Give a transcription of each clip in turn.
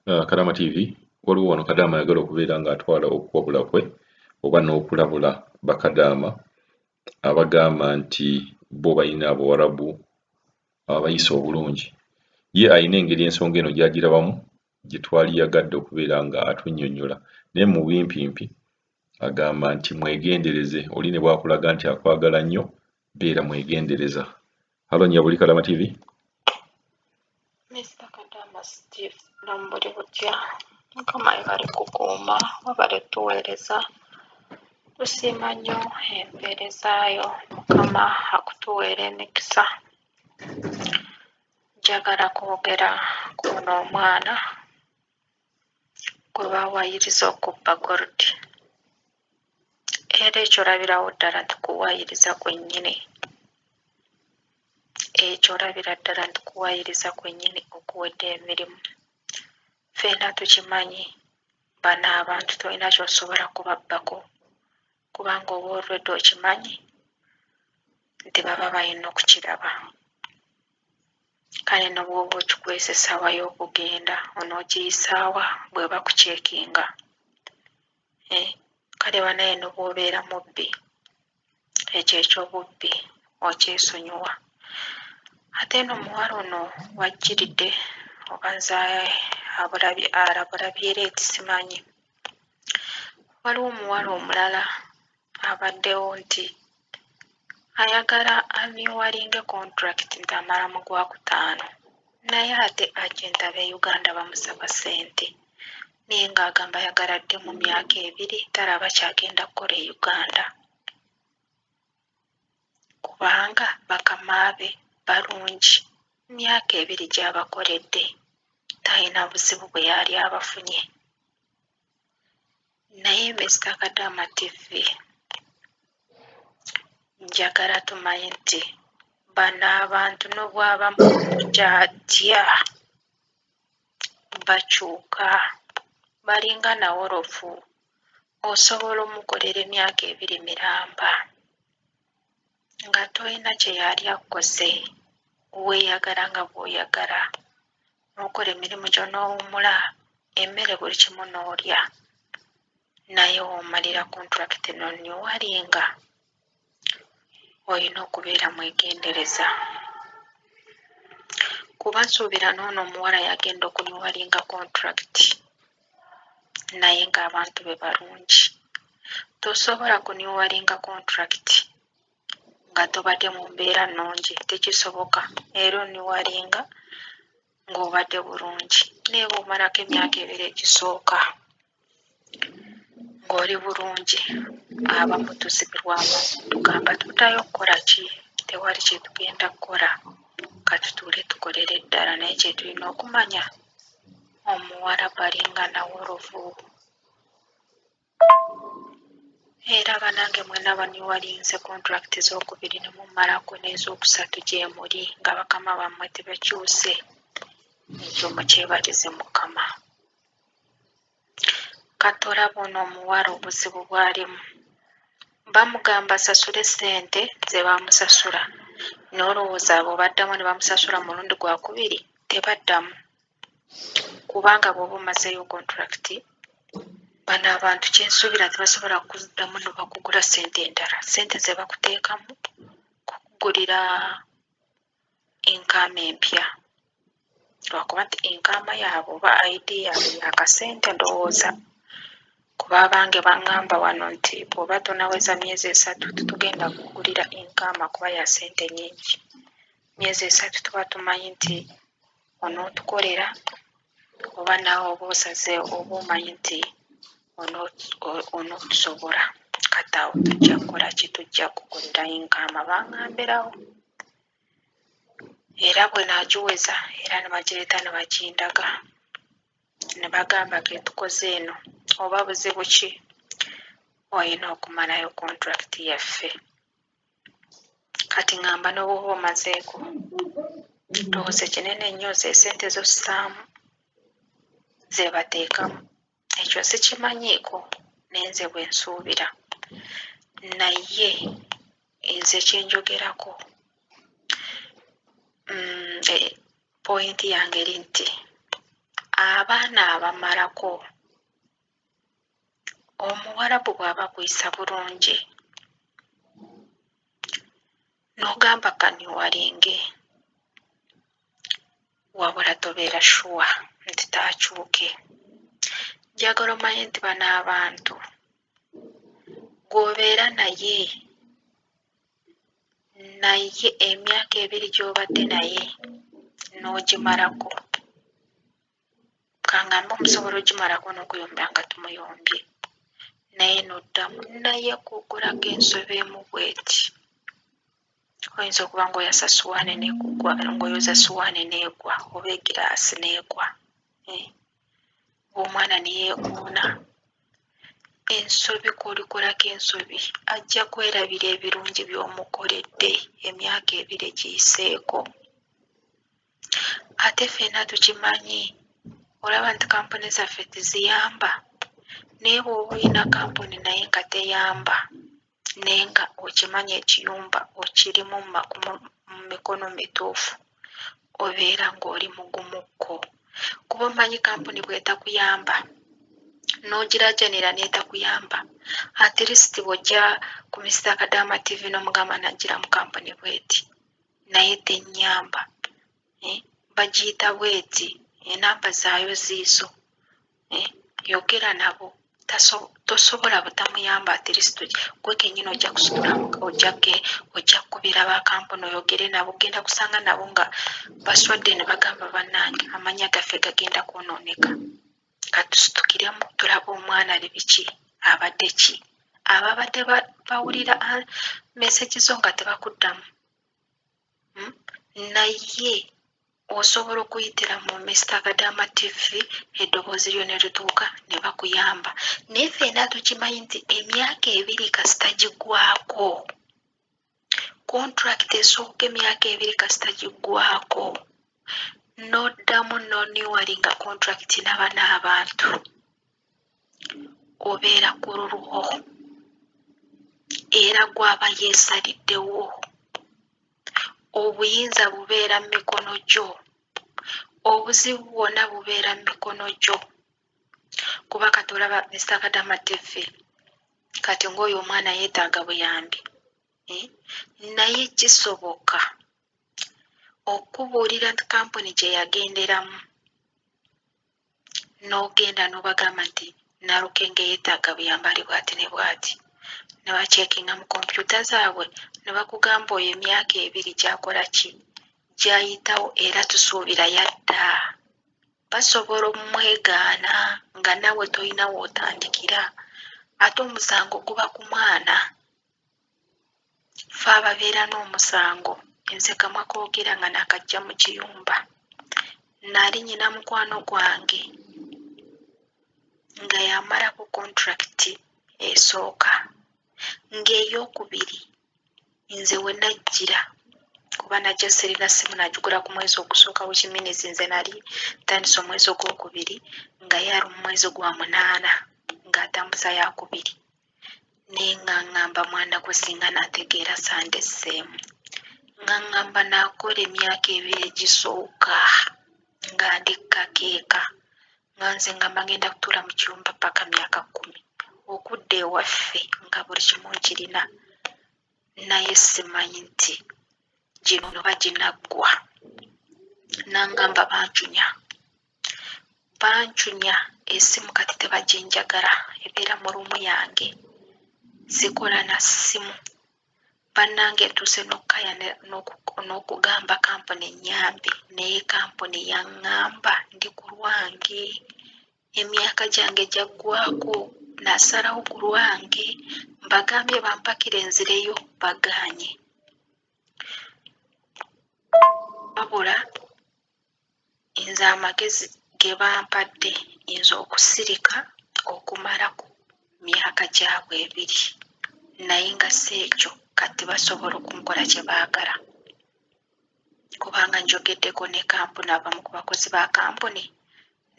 Uh, Kadama TV waliwo wano Kadama ayagala okubeera ng'atwala okuwabula kwe oba n'okulabula bakadaama abagamba nti bo balina abawarabu abayisa obulungi ye alina engeri ensonga eno gyagirabamu gye twali yagadde okubeera nga atunyonyola naye mu bimpimpi agamba nti mwegendereze oli ne bwakulaga nti akwagala nnyo beera mwegendereza halo nya buli kalama tv Mr. Kadama Steve Lombori Butya mukama ebale kukuuma wabale tuweereza tusiima nnyo empeerezaayo mukama akutuweera emikisa njagala kwogera kuno omwana gwe bawaayiriza okubba gold era ekyo olabirawo ddala nti kuwaayiriza kwennyini ekyo olabira ddala nti kuwaayiriza kwennyini okuwedde emirimu ffena tukimanyi bano abantu tolina kyosobola kubabbako kubanga oba olwedda okimanyi nti baba balina okukiraba kale ne bw'oba okikwese essaawa y'okugenda onoogiyisaawa bwe bakuceekinga? Eh, kale banaye ne bw'obeera mubbi ekyo eky'obubbi okyesonyiwa. Ate eno omuwala ono wajjiridde oba nze abulabye alabulabye era eti simanyi. waliwo omuwala omulala abaddewo nti ayagala amyuwalinge kontulakiti nti amala mu gwakutaano naye ate ajenti aba e Uganda bamusaba ssente naye ng'agamba ayagala adde mu myaka ebiri talaba kyagenda kukola e Uganda. kubanga bakama be balungi myaka ebiri gyabakoledde talina buzibu bweyaali abafunye naye Mister Kadaama TV njagala tumanye nti bano abantu nobwaba mukuja atya. bakyuka balinga nawolovu osobola omukolera emyaka ebiri miramba nga tolina kyeyali akkoze weyagala nga bwoyagala nokola emirimu gyo nowumula emmere buli kimu nolya naye womalira contract no new walinga. olina okubeera mwegendereza kuba nsuubira n'ono omuwala yagenda okunyuwaringa kontulakiti naye ng'abantu be balungi. Tosobola kunyuwaringa kontulakiti nga tobadde mu mbeera nnungi, tekisoboka. Era onyuwaringa ng'obadde bulungi naye bw'omalako emyaka ebiri egisooka ng'oli bulungi abamu tuzibirwamu tugamba tuddayo okukola ki tewali kye tugenda kukola katutuule tukolere ddala naye kye tulina okumanya omuwala balinga nawolovu Era banange mwena baniwalinze contract zokubiri nemumalako nezokusatu gyemuli nga bakama bamwe tebakyuse ekyo mukyebalize mukama kati olaba ono omuwala obuzibu bwalimu bamugamba asasule sente zebamusasula nolowooza abo baddamu nebamusasula mulundi gwakubiri tebaddamu kubanga bwoba omazeeyo contract bano abantu kyensuubira nti basobola kuddamu nobakugula sente endala sente zebakuteekamu kukugulira enkaama empya lwakuba nti enkaama yaabwe oba ID yaabwe yakasente ndowooza kuba abange bangamba wano nti bwoba tonaweza myezi esatu tetugenda kukugulira enkaama kuba yasente nyingi myezi esatu tuba tumanyi nti onootukolera oba naawe oba osaze oba omanyi nti onootusobola kati awo tujja kukola ki tujja kukolera yinkaama bangambirawo era bwe naagiweza era ne bagireeta ne bagindaga ne bagamba ke tukoze eno oba buzibu ki olina okumalayo kontulakiti yaffe kati ngamba nobwoba omazeeko ndowooza ekinene ennyo zesente zossaamu zebateekamu ekyo sikimanyiiko nenze bwensuubira naye nze kyenjogerako mm, e, pointi yange eri nti abaana abamalako omuwarabu bwaba akuyisa bulungi nogamba kaniwalinge wabula tobeera shuwa nti takyuke njagala omanye nti bano abantu gwobeera naye naye emyaka ebiri gyobadde naye n'ogimalako kangamba omusobola ogimalako n'okuyomba nga tumuyombye naye noddamu naye kugulaga ensobi emu bweti oyinza okuba ngaoyasa suwaani nekugwa ngaoyoza suwaani negwa oba egiraasi negwa eh, omwana neyekoona ensobi kolikolako ensobi ajja kwerabira ebirungi byomukoledde emyaka ebiri giyiseeko ate ffena tukimanyi olaba nti kampuni zaffe teziyamba naye bwoba olina kampuni naye nga teyamba naye nga okimanyi ekiyumba okirimu mumikono mituufu obeera nga oli mugumu kko kuba omanyi kampuni bwetakuyamba nogirajanira netakuyamba atleast bwojja ku Mister Kadaama TV nomugamba najira mukampuni bweti naye tennyamba eh, bagiyita bweti enamba eh, zaayo ziizo eh, yogera nabo tosobola butamuyamba atlist gwe kenyini ojja kusitula ojjake ojja kukubira bakampuni oyogere nabo genda kusanga nabo nga baswadde ne bagamba bannange amanya gaffe gagenda kwonooneka katusitukiremu tulaba omwana ali biki abadde ki ababadde bawulira mesegi zo nga tebakuddamu hmm? naye osobola okuyitira mu mista kadama tv eddoboozi lyo ne lituuka ne bakuyamba naye feena tukimanyi nti emyaka ebiri kasita gigwako contract esooka emyaka ebiri kasita giggwako noddamu no newalinga contract naba n'abantu obeera ku lulwo era gwaba yeesaliddewo obuyinza bubeera mu mikono gyo obuzibu bwonna bubeera mu mikono gyo kuba kati olaba Mister Kadama TV kati ng'oyo omwana yeetaaga buyambi eh? naye kisoboka okubuulira kampuni gye yagenderamu n'ogenda n'obagamba nti nalukenge yeetaaga buyambi ali bwati ne bwati ne bakyekinga mu kompyuta zaabwe ne bakugamba oyo emyaka ebiri gyakola ki gyayitawo era tusuubira yadda basobola omumwegaana nga nawe tolina wotandikira ate omusango guba ku mwana fe ababeera n'omusango nze kamwa kogera nga nakajja mu kiyumba nali nyina mukwano gwange nga yamalako kontulakiti esooka ng'eyokubiri nze wenajjira kuba najja sirina ssimu nagigula ku mwezi ogusooka which means nze nali ntandise omwezi ogwokubiri nga ye ali mu mwezi gwa munaana ng'atambuza yakubiri naye nga ngamba mwana gwe singa nategeera sande sseemu nga ngamba nakola emyaka ebiri egisooka nga ndi kakeeka nga nze ngamba ngenda kutuula mu kiyumba paka myaka kkumi okudda ewaffe nga buli kimu nkirina naye simanyi nti gino noba ginaggwa nangamba bancunya bancunya esimu kati tebaginjagala ebeera mu luumu yange sikola na ssimu Bannange ntuuse n'okukaya n'okugamba kampuni ennyambe naye kampuni yaŋŋamba ndi ku lwange, emyaka gyange gyaggwaako nasalawo ku lwange mbagambye bampakire nzireyo bagaanye. Wabula Nze amagezi ge bampadde nze okusirika okumala ku myaka gyabwe ebiri naye nga si ekyo kati basobola okunkola kye baagala kubanga njogeddeko ne kampuni abamu ku bakozi ba kampuni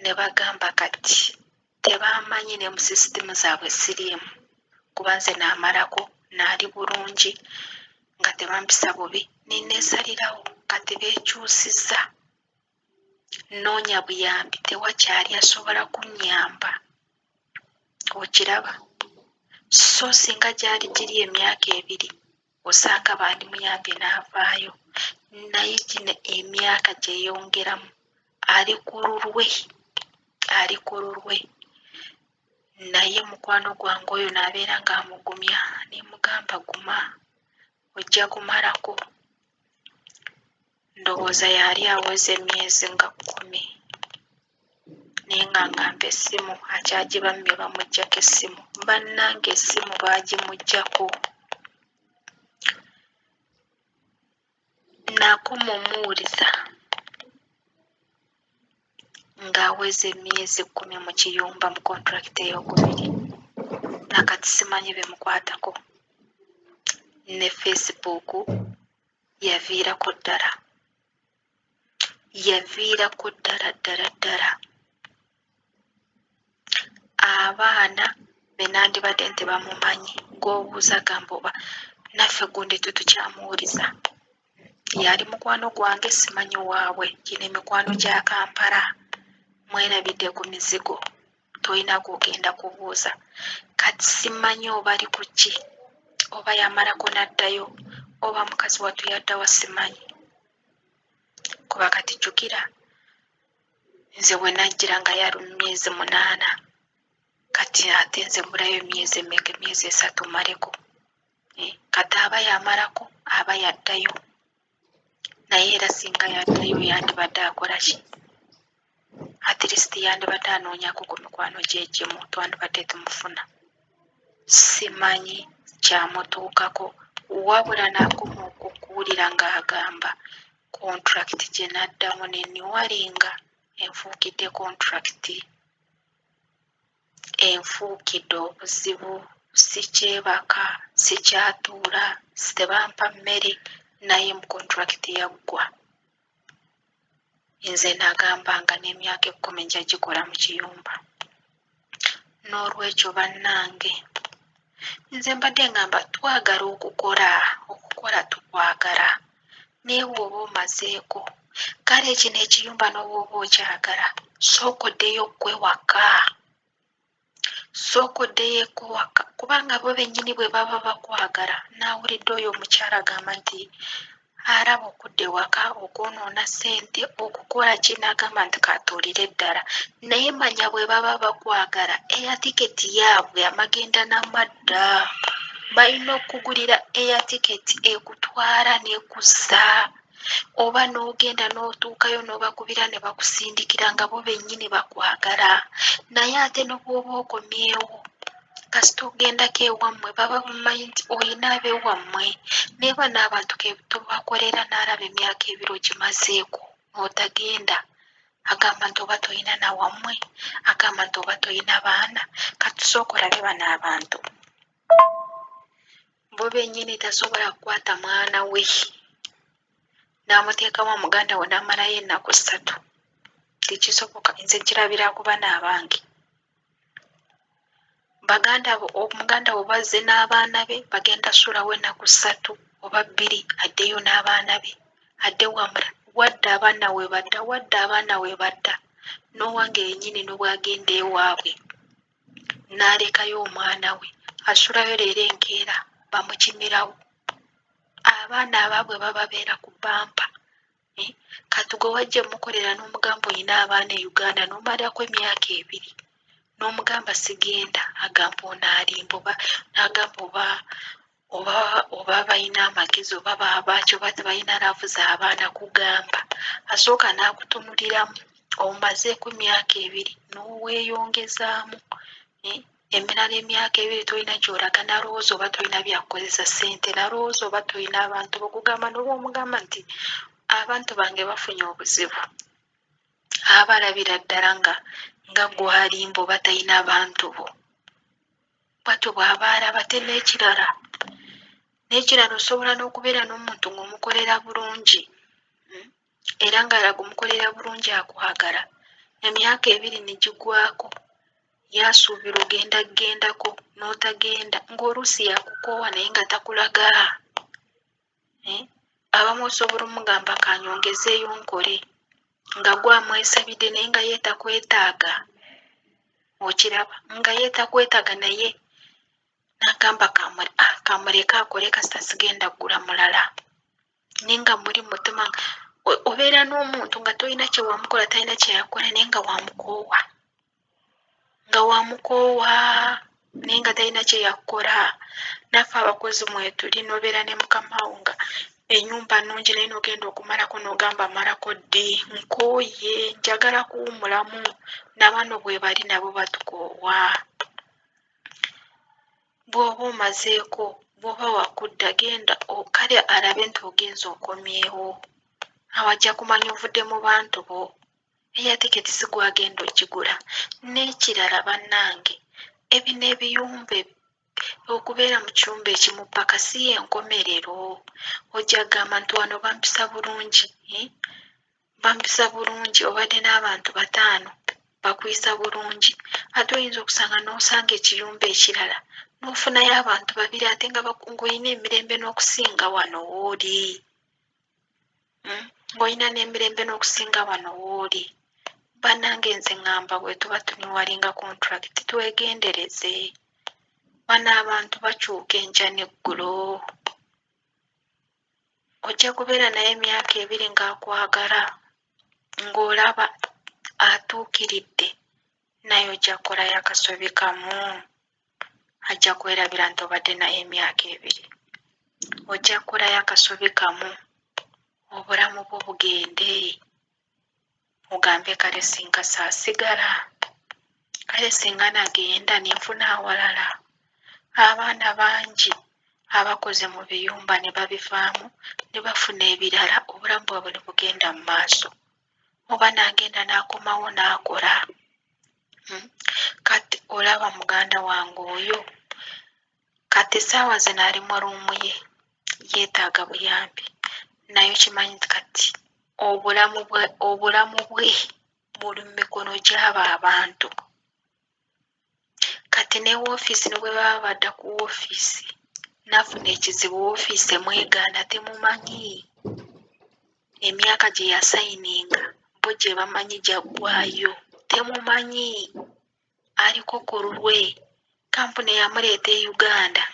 ne bagamba kati Tebammanyi ne mu sisitimu zaabwe siriimu kuba nze naamalako naali bulungi nga tebampisa bubi ne neesalirawo kati beekyusizza nnoonya buyambi tewakyali asobola kunnyamba okiraba so singa gyali giri emyaka ebiri osanga bandimuyambye n'avaayo naye gino emyaka gyeyongeramu ali ku lulwe ali ku lulwe naye mukwano gwange oyo naabeera ng'amugumya nemugamba guma ojja kumalako Ndowooza yaali aweza emyezi nga kkumi naye nga ngamba essimu akyagibammye bamuggyako essimu. Bannange essimu baagimuggyako. Nakoma omuwuliza ng'aweza emyezi kkumi mu kiyumba mu kontulakiti eyokubiri na kati simanyi bimukwatako ne Facebook yaviirako ddala yaviirako ddala ddala ddala abaana be nandibadde nti bamumanyi gwobuuza gamba oba naffe gundi tetukyamuwuliza yali mukwano gwange simanyi waabwe gino emikwano gya kampala mwerabidde ku mizigo tolina gwogenda kubuuza kati simanyi oba ali ku ki oba yamalako n'addayo oba mukazi wattu yaddawa simanyi kuba kati jjukira nze bwe najjira nga yali mu myezi munaana kati ate nze mbulayo emyezi emeka emyezi esatu maleko eh, kati aba yamalako aba yaddayo naye era singa yaddayo yandibadde akola ki at least yandibadde anoonyako ku mikwano gye egimu twandibadde tumufuna simanyi kyamutuukako wabula nakoma okuwulira ng'agamba contract gye naddamu ne niwalinga enfuukidde contract enfuukidde obuzibu, sikyebaka, sikyatuula, tebampa mmere naye mu kontulakiti yaggwa. Nze nagamba nga n'emyaka ekkumi nja gikola mu kiyumba. Noolwekyo bannange Nze mbadde ngamba twagala okukola okukola tukwagala naye bw'oba omazeeko kale ekino ekiyumba n'obwoba okyagala sooka oddeyo ggwe waka sooka oddeyo eko waka kubanga bo bennyini bwe baba bakwagala naawulidde oyo omukyala agamba nti Alaba okudda ewaka, okwonoona ssente, okukola ki n'agamba nti k'atuulire ddala. Naye manya bwe baba bakwagala eya tiketi yaabwe amagenda na madda. Balina okukugulira eya tiketi ekutwala n'ekuzza oba n'ogenda n'otuukayo n'obakubira ne bakusindikira nga bo bennyini bakwagala. Naye ate ne bw'oba okomyewo kasita ogendako ewammwe baba bamanyi nti olina abewammwe naye bano abantu kebtobakolera naalaba emyaka ebiri ogimazeeko otagenda agamba nti oba tolina nawammwe agamba nti oba tolina baana katusooka olabe bano abantu bo benyini tasobola kukwata mwana we namuteekamu omuganda we namalayo ennaku ssatu tekisoboka nze kirabira kuba naabange baganda bo omuganda wo bazze n'abaana be bagenda sulawo ennaku ssatu oba bbiri addeyo n'abaana be adde wamula wadda abaana we badda wadda abaana we badda n'owange yennyini ne bwagenda ewaabwe n'alekayo omwana we asulayo leero enkeera bamukimirawo abaana abaabwe bababeera ku bbampa Naye kati gwe wajja mukolera n'omugamba olina abaana e Uganda n'omalako emyaka ebiri n'omugamba sigenda agamba ono alimba oba n'agamba oba oba oba balina amagezi oba babaaki oba tebalina laavu z'abaana kugamba asooka n'akutunuliramu omazeeko emyaka ebiri n'oweyongezaamu eh, emirala emyaka ebiri tolina gyolaga nalowooza oba tolina byakukozesa sente nalowooza oba tolina abantu bokugamba noba omugamba nti abantu bange bafunye obuzibu aba alabira ddala nga nga gwalimba oba talina abantu bo bwatyo bwaba alaba te n'ekirala n'ekirala osobola n'okubeera n'omuntu ng'omukolera bulungi era ng'alaga omukolera bulungi akwagala. Emyaka ebiri ne gigwako ye asuubira ogenda kugendako n'otagenda ng'oluusi yakukoowa naye nga takulaga. Eh, abamu osobola omugamba ka nyongezeeyo nkole nga gwe amwesabidde naye nga ye takwetaaga. Okiraba nga ye takwetaaga naye n'agamba ah, kamuleke akole kasita sigenda kugula mulala. naye nga muli mutima obeera n'omuntu nga tolina kyewamukola talina kyeyakola naye nga wamukoowa nga wamukoowa naye nga talina kyeyakukola naffe abakozi mwetuli nobeera ne mukamawo nga enyumba nungi naye nogenda okumalako nogamba malako ddi nkooye njagala kuwumulamu nabano bwebali nabo batukoowa bwoba omazeeko bwoba wakudda genda kale alabe nti ogenza okomyewo awo ajja kumanya ovudde mu bantu bo eya tiketi sigwagenda okigula n'ekirala bannange ebino ebiyumba okubeera mu kiyumba ekimu paka si yenkomerero ojja kugamba nti wano bampisa bulungi eh? Bampisa bulungi obadde n'abantu bataano bakuyisa bulungi ate oyinza okusanga n'osanga ekiyumba ekirala n'ofunayo abantu babiri ate nga ng'olina emirembe n'okusinga wano wooli hmm? ng'olina n'emirembe n'okusinga wano wooli banange nze ŋŋamba bwe tuba tuniwalinga kontulakiti twegendereze bano abantu bakyuka enkya n'eggulo ojja kubeera naye emyaka ebiri ng'akwagala ng'olaba atuukiridde naye ojja kukolayo akasobi kamu ajja kwerabira nti obadde naye emyaka ebiri ojja kukolayo akasobi kamu obulamu bwo bugende mugambe kale singa saasigala kale singa nagenda ne nfuna awalala abaana bangi abakoze mu biyumba ne babivaamu ne bafuna ebirala obulamu bwabwe ne bugenda mu maaso oba nagenda n'akomawo n'akola hmm? kati olaba muganda wange oyo Kati saawa zino ali mu luumu ye, yeetaaga buyambi naye okimanyi nti kati obulamu bwe obulamu bwe buli mu mikono gy'abo abantu. Kati ne woofiisi ne bwe baba badda ku woofiisi n'afuna ekizibu woofiisi emwegaana temumanyi, emyaka gye yasayininga bo gye bamanyi gyaggwaayo temumanyi. aliko ku lulwe kkampuni eyamuleeta e Uganda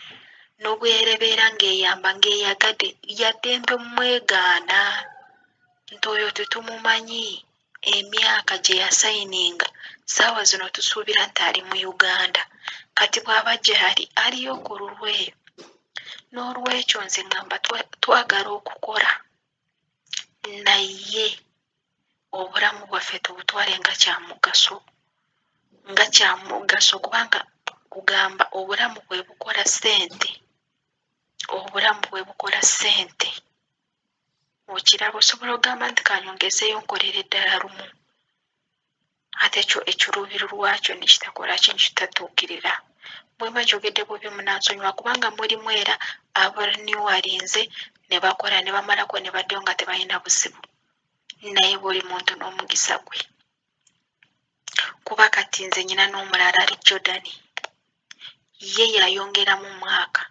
n'obwerebeera ng'eyamba ng'eyagadde lya ddembe omwegaana nti oyo tetumumanyi emyaka gye yasayininga ssaawa zino tusuubira nti ali mu Uganda kati bw'aba gyali aliyo ku lulwe n'olwekyo nze ngamba twagala okukola. naye obulamu bwaffe tubutwale nga kyamugaso nga kyamugaso kubanga kugamba obulamu bwe bukola ssente obulamu bwe bukola ssente okiraba osobola ogamba nti kanyongezeeyo nkolere ddala lumu. ate ekyo ekiruubiro lwakyo ne kitakola ki ne kitatuukirira bwe mba njogedde bubi munansonyiwa kubanga mulimu era abaliniwalinze ne bakola ne bamalako ne baddayo nga tebalina buzibu naye buli muntu n'omugisa gwe kuba kati nze nyina n'omulala ali jordani ye yayongeramu mwaka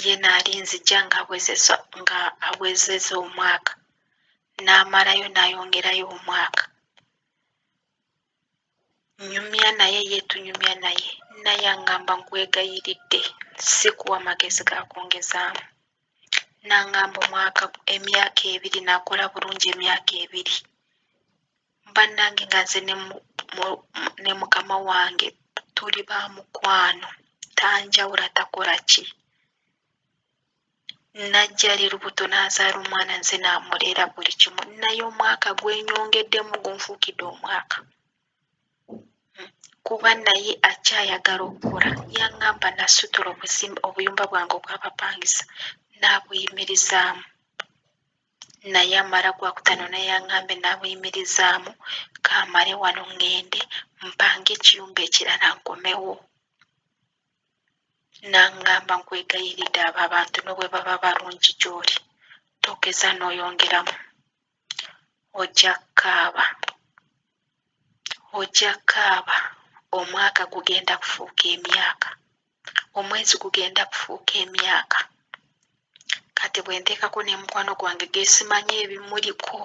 ye n'alinzija ng'awezezza nga awezezza omwaka n'amalayo n'ayongerayo omwaka nnyumya naye ye tunyumya naye naye angamba nkwegayiridde sikuwa magezi ga kwongezaamu n'angamba omwaka emyaka ebiri nakola bulungi emyaka ebiri bannange nga nze ne mukama wange tuli ba mukwano tanjawula takola ki najja ali lubuto n'azaala omwana nze namuleera buli kimu naye omwaka gwenyongeddemu gunfuukidde omwaka kuba naye akyayagala okukola yaŋŋamba nasitula obuyumba bwange obwabapangisa n'abuyimirizaamu naye amala gwakutaano n'eyang'ambe naabuyimirizaamu kaamale wano ŋŋende mpange ekiyumba ekirala nkomewo. N'aŋŋamba nkwegayiridde abo abantu ne bwe baba balungi gy'oli togeza n'oyongeramu ojja kukaaba ojja kukaaba omwaka gugenda kufuuka emyaka. omwezi gugenda kufuuka emyaka kati bwenteekako nemukwano gwange gesimanyi ebimuliko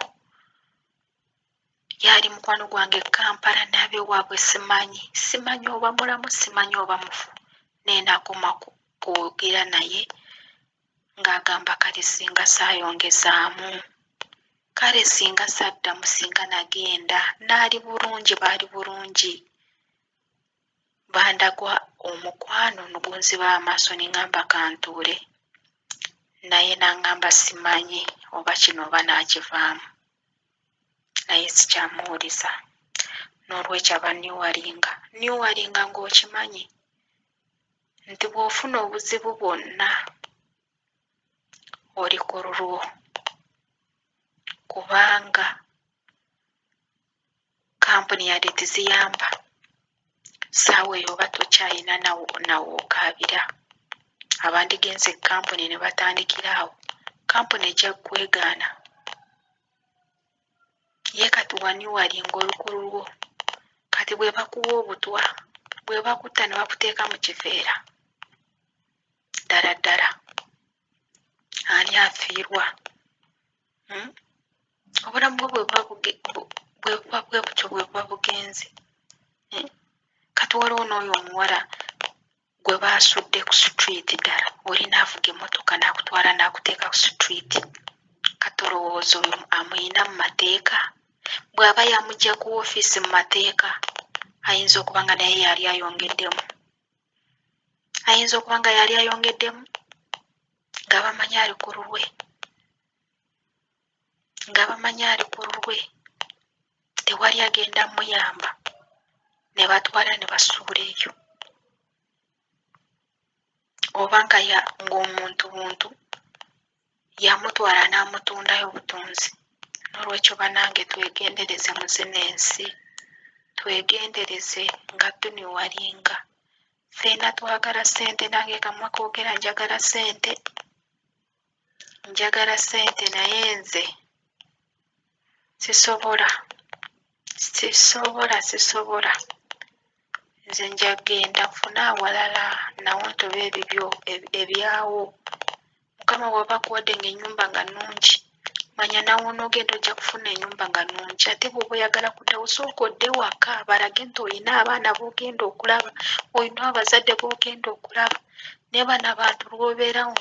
yaali mukwano gwange e kampala nabewaabwe simanyi simanyi oba mulamu simanyi oba mufu naye nakoma kwogera naye nga agamba kale singa sayongezaamu kale singa saddamu singa nagenda naali bulungi baali bulungi bandagwa omukwano nugunziba amaaso nengamba kantuule naye nangamba simanyi oba kino oba nakivaamu naye sikyamuwuliza n'olwekyo aba niwalinga niwalinga ng'okimanyi nti bw'ofuna obuzibu bwonna oli ku lulwo kubanga kampuni yadde teziyamba saawa eyo oba tokyayina nawookaabira abandigenze ekampuni ne batandikira awo kampuni ejja kwegaana ye kati wani wali ngaolukulu lwo kati bwe bakuwa obutwa bwe bakutta ne bakuteeka mu kiveera ddala ddala ani afiirwa hmm? obulamu bwo bwebuba bwe butyo bwebuba bugenze hmm? kati waliwo n'oyo omuwala gwe baasudde ku street ddala oli naavuga emmotoka naakutwala naakuteeka ku street kati olowooza oyo amuyina mu mateeka bw'aba yamugya ku ofiisi mu mateeka ayinza okuba nga naye yali ayongeddemu ayinza okuba nga yali ayongeddemu nga bamanyi ali ku lulwe nga bamanyi ali ku lulwe tewali agenda muyamba ne batwala ne basuula eyo oba nga ng'omuntu buntu yamutwala n'amutundayo butunzi. N'olwekyo banange twegendereze mu zino ensi, twegendereze nga tuniwalinga. Ffena twagala ssente nange kamma koogera njagala ssente, njagala ssente naye nze. sisobola sisobola sisobola nze nja genda nfune awalala nawo ntobe ebibyo ebyawo mukama waba akuwadde nga enyumba nga nungi manya nawe onogenda ojja kufuna enyumba nga nungi ate bwoba oyagala kuddawo sooka odde waka balage nti olina abaana bogenda okulaba olina abazadde bogenda okulaba naye bana bantu lwobeerawo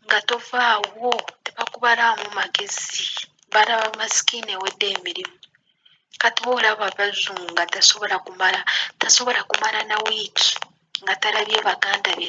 nga tovaawo tebakubalaamu magezi balaba masikini ewedde emirimu kati oba olaba bazungu nga tasobola kumala tasobola kumala na wiiki nga talabye baganda be